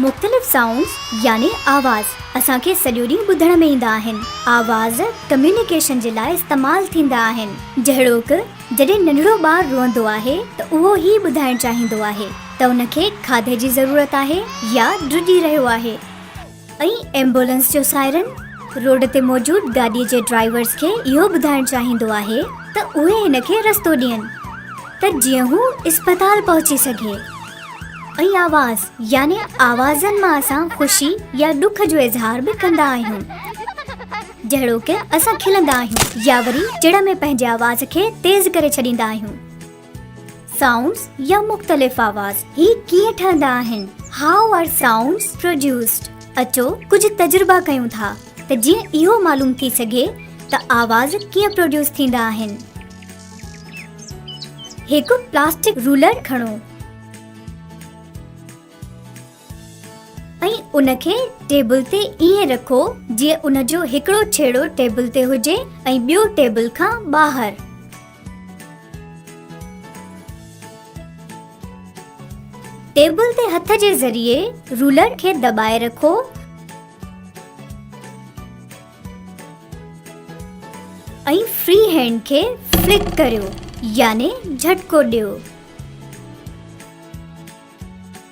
مختلف سائونڊز يعني آواز اسان کي سڄو ڏينهن ٻڌڻ ۾ ايندا آهن. آواز ڪميونيڪيشن جي لاء استعمال ٿيندا آهن جهڙوڪ. جڏهن ننڍڙو ٻار روئندو آهي ته اهو هي ٻڌائڻ چاهيندو آهي ته ان کي کاڌي جي ضرورت آهي يا ڊڄي رهيو آهي ۽ ايمبولنس جو سائرن روڊ تي موجود گاڏي جي ڊرائيورز کي اهو ٻڌائڻ چاهيندو آهي ته اهي هن کي رستو ڏين ته جيئن هو اسپتال پهچي سگهي ۽ آواز يعني آوازن مان اسان خوشي يا ڏک جو اظهار به ڪندا آهيون. جهڙوڪ، اسان کلندا آهيون يا وري چڙ ۾ پنهنجي آواز کي تيز ڪري ڇڏيندا آهيون. سائونڊز يا مختلف آواز هي ڪيئن ٺهندا آهن؟ How are sounds produced? اچو ڪجهه تجربا ڪيون ٿا ته جيئن اهو معلوم ٿي سگهي ته آواز ڪيئن پروڊيوس ٿيندا آهن. هڪ پلاسٽڪ رولر کڻو. ۽ ان کي ٽيبل تي ائين رکو جيئن ان جو هڪڙو ڇيڙو ٽيبل تي هجي ۽ ٻيو ٽيبل کان ٻاهر. ٽيبل تي هٿ جي ذريعي رولر کي دٻائي رکو. ۽ فري هينڊ کي فلڪ ڪريو يعني جهٽڪو ڏيو.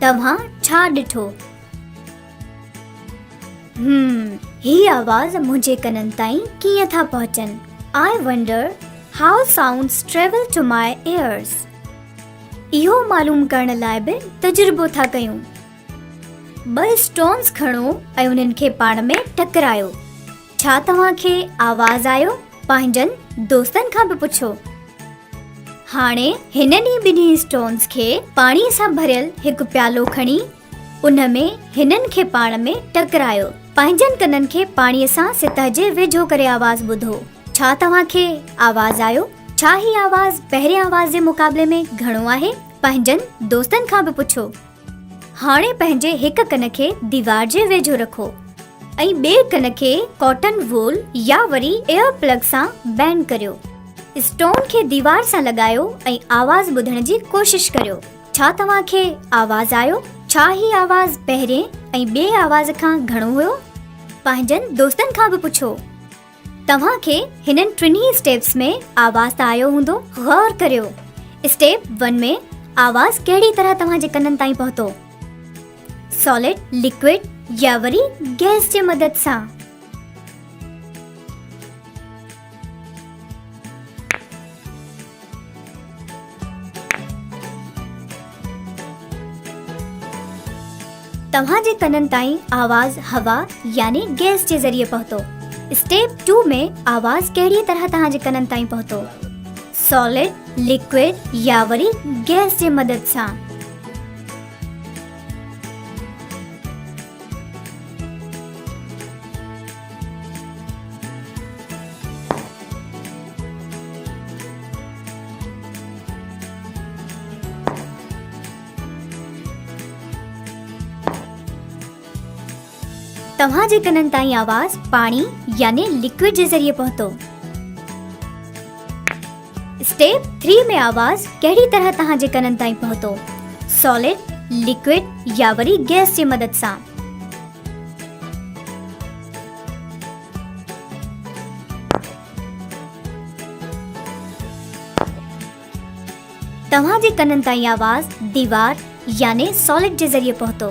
توهان ڇا ڏٺو؟ هم، هي آواز منهنجي ڪنن تائين ڪيئن ٿا پهچن؟ I wonder how sounds travel to my ears. اهو معلوم ڪرڻ لاء به تجربو ٿا ڪيون. ٻه اسٽونز کڻو ۽ انهن کي پاڻ ۾ ٽڪرايو. ڇا توهان کي آواز آيو؟ پنهنجن دوستن کان به پڇو. هاڻي هن ڏينهن ٻنهي اسٽونز کي پاڻي سان ڀريل هڪ پيالو کڻي ان ۾ هنن کي پاڻ ۾ ٽڪرايو. پنهنجن ڪنن کي پاڻي سان سطح جي ويجهو ڪري آواز ٻڌو. ڇا توهان کي آواز آيو؟ ڇا هي آواز پهرين آواز جي مقابلي ۾ گهڻو آهي؟ پنهنجن دوستن کان به پڇو. هاڻي پنهنجي هڪ ڪن کي ديوار جي ويجهو رکو ۽ ٻئي ڪن کي ڪاٽن وول يا وري ايئر پلگ سان بينڊ ڪريو. اسٽون کي ديوار سان لڳايو ۽ آواز ٻڌڻ جي ڪوشش ڪريو. ڇا توهان کي آواز آيو؟ ڇا هي آواز پهرين ۽ ٻئي آواز کان گهڻو هيو؟ پنهنجن دوستن کان به پڇو. توهان کي هنن ٽنهي اسٽيپس ۾ آواز ته آيو هوندو غور ڪريو اسٽيپ ون ۾ آواز ڪهڙي طرح توهان جي ڪنن تائين پهتو سالڊ لڪوڊ يا وري گيس جي مدد سان توهان جي ڪنن تائين آواز هوا يعني گئس جي ذريعي پهتو اسٽيپ ٽو ۾ آواز ڪهڙي طرح توهان جي ڪنن تائين پهتو سالڊ ليڪوئڊ يا وري گئس جي مدد سان توهان جي ڪنن تائين آواز پاڻي يعني لڪوڊ جي ذريعي پهتو اسٽيپ 3 ۾ آواز ڪهڙي طرح توهان جي ڪنن تائين پهتو سالڊ لڪوڊ يا وري گيس جي مدد سان توهان جي ڪنن تائين آواز ديوار يعني ساليڊ جي ذريعي پهتو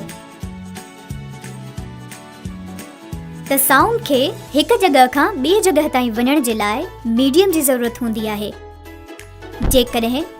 ته سائونڊ کي هڪ جڳهه کان ٻي جڳهه تائين وڃڻ جي لاء ميڊيم جي ضرورت هوندي آهي جيڪڏهن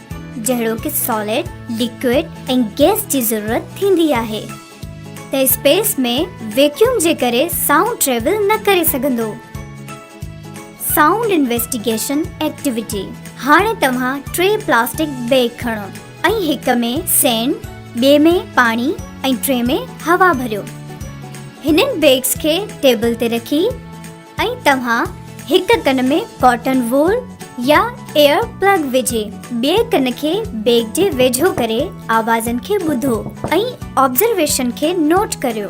جهڙوڪ سالڊ، ليڪوئڊ ۽ گئس جي ضرورت ٿيندي آهي ته اسپيس ۾ ويڪيوم جي ڪري سائونڊ ٽريول نه ڪري سگهندو. سائونڊ انويسٽيگيشن ايڪٽيوٽي، هاڻي توهان ٽي پلاسٽڪ بيگ کڻو ۽ هڪ ۾ سينڊ، ٻئي ۾ پاڻي ۽ ٽئين ۾ هوا ڀريو. هنن بيگس کي ٽيبل تي رکي، ۽ توهان هڪ ڪن ۾ ڪاٽن وول يا ايئر پلگ وجهي ٻئي ڪن کي بيگ جي ويجهو ڪري آوازن کي ٻڌو ۽ آبزرويشن کي نوٽ ڪريو.